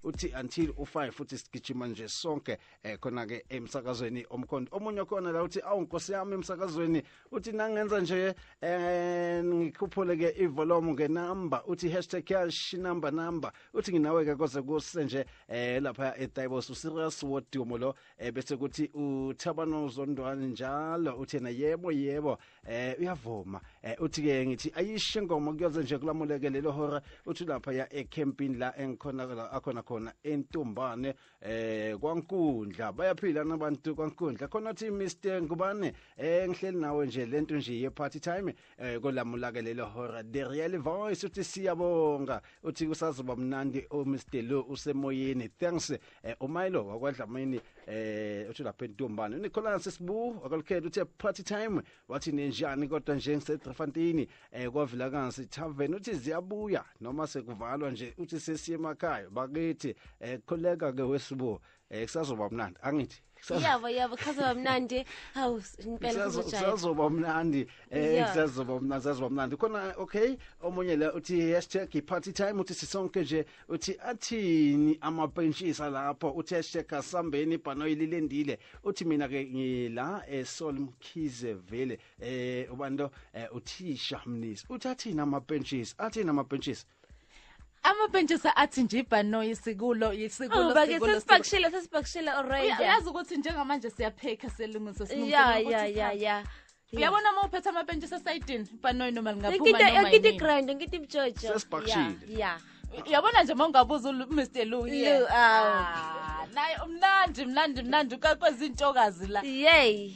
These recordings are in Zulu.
uthi until u5 futhi sigijima nje sonke eh khona ke emsakazweni omkhondo omunye khona la uthi awu nkosi yami emsakazweni uthi nangenza nje eh ngikhuphule ke ivolume ke number uthi hashtag cash number number uthi nginawe ke koze kuse nje eh lapha eTaibos userious wodimo lo eh bese kuthi uthabano zondwani njalo uthena yebo yebo eh uyavuma eh uthi ke ngithi ayishe ngomo kuyoze nje kulamuleke lelo hora uthi lapha ya ecamping la engikhona la akhona khona entumbane eh kwankundla bayaphila nabantu kwankundla khona uthi Mr ngubane eh ngihleli nawe nje lento nje ye party time eh kolamula ke lelo hora the real voice uthi siyabonga uthi kusazoba mnandi o oh, Mr Lo usemoyeni thanks eh, uMilo wakwadlamini eh uthi lapha entombane uNicholas Sibu wakalukhetha uthi party time wathi nenjani kodwa nje ngiseDrefantini eh kwavila kansi tavern uthi ziyabuya noma sekuvalwa nje uthi sesiye emakhaya bakithi eh khuleka ke wesibu eh kusazoba mnandi angithi yabo yabo kusazoba mnandi hawu impela kusazoba mnandi eh kusazoba mnandi kusazoba mnandi khona okay omunye la uthi hashtag party time uthi sisonke nje uthi athini amapentshisa lapho uthi hashtag asambeni ibhano ililendile uthi mina ke ngila esol eh, mkhize vele eh ubanto eh, uthisha mnisi uthi athini amapentshisa athini amapentshisa amapentshisa athi nje ibhanoyi isikulo isikulo oh, bake sesipakishile sesipakishile already uyazi ukuthi njengamanje siyapheka selungise sinqobo ya ya ya ya uyabona uma uphethe amapentshisa sayidini ibhanoyi noma lingaphuma noma yini ngikiti grind ngikiti mjojo sesipakishile ya uyabona nje uma ungabuza uMr Lou yeah ah, naye umnandi mnandi mnandi kakwezintokazi la yey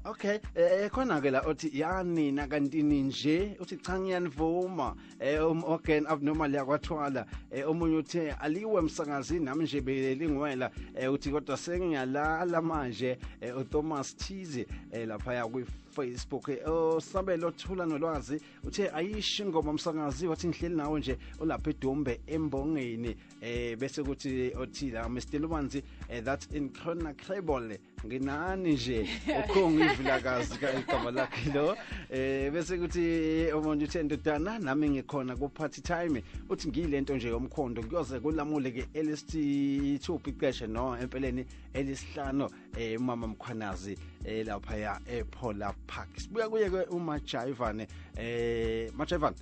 Okay, eh, eh khona ke la othi yani nakantini nje uthi cha ngiyanivuma eh um organ abnormal yakwathwala eh omunye uthe aliwe msakazi nami nje belingwela eh uthi kodwa sengiyalala manje eh uThomas Thize eh lapha ya kwi Facebook eh, osabelo thula nolwazi uthe ayishi ingoma msakazi wathi ngihleli nawe nje olapha eDombe embongeni eh bese kuthi othila Mr Lubanzi eh, that's in Khona Cable nginani nje ukhonga ivilakazi igama lakhe lo eh bese kuthi umuntu uthe ndodana nami ngikhona ku party time uthi ngiyilento nje yomkhondo kuyoze kulamule ke LST 2 piceshe no empeleni elisihlano eh umama mkhwanazi eh lapha ya ePola Park sibuya kuye ke uMajayivane eh Majayivane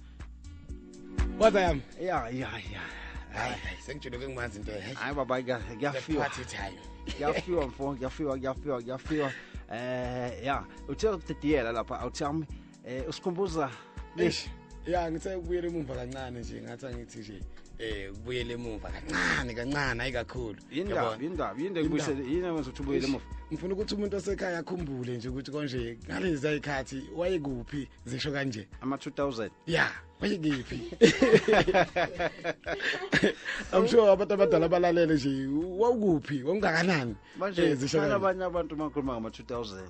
kodwa yami ya ya ya hayi sengitshele ke ngimazi into hayi hayi baba kuyafiwa party time kuyafiwa mfo kuyafiwa kuyafiwa kuyafiwa eh ya uthe ukudidiyela lapha awuthami eh usikhumbuza lesh ya ngithe ukubuyela emuva kancane nje ngathi angithi nje eh ubuyele emuva kancane kancane hayi kakhulu indaba indaba yinde kubuyisele yini awenza ukuthi ubuyele emuva ngifuna ukuthi umuntu osekhaya akhumbule nje ukuthi konje ngalezi ayikhathi wayekuphi zisho kanje ama 2000 yeah bayikiphi I'm sure abantu abadala balalele nje wawukuphi wawungakanani manje Eh, zisho kanje. abanye abantu uma khuluma ngama 2000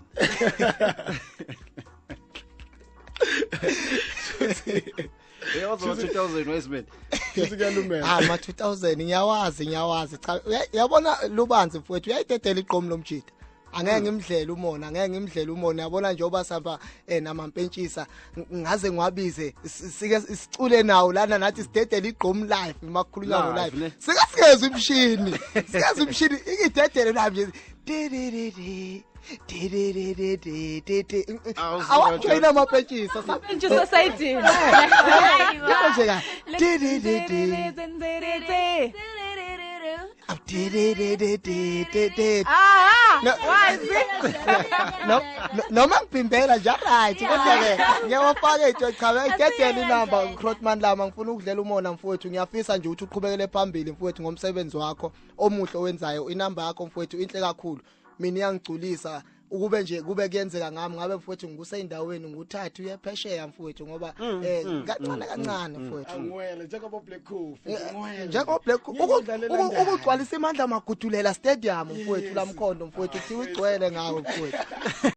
Shuthi- Uyawazi ama 2000 wesibili. Futhi kuyalumela. Ah ma 2000 ngiyawazi ngiyawazi cha uya- uyabona lubanzi mfowethu uyayidedela iqomu lomjita. Angeke ngimdlele umona angeke ngimdlele umona yabona nje oba samba eh namampentshisa ng- ngaze ngiwabize si- sike sicule nawo lana nathi sidedela iqomu live makukhulunywa ngo Live, live. ne? Sike sigeze umshini. Sigeze umshini ikidedele nami nje. Di, di, di, di. awajoyina amapentshisa sapentshisa sayidini nje ka noma ngibhimbela nje right kodwa-ke ngiyawafaka iy'tshwe cha ngidedele inamba ucrotman lama ngifuna ukudlela umona mfowethu ngiyafisa nje ukuthi uqhubekele phambili mfowethu ngomsebenzi wakho omuhle owenzayo inamba yakho mfowethu inhle kakhulu mina iyangigculisa ukube nje kube kuyenzeka ngami ngabe mfowethu ngikuseyindaweni nguthathu uyephesheya mfowethu ngoba mm, eh mm, kancane mm, kancane mfowethu ngwele njengoba black cool eh, ngwele njengoba black ukugcwalisa imandla magudulela stadium mfowethu lamkhondo mfowethu kuthiwa igcwele ngawo mfowethu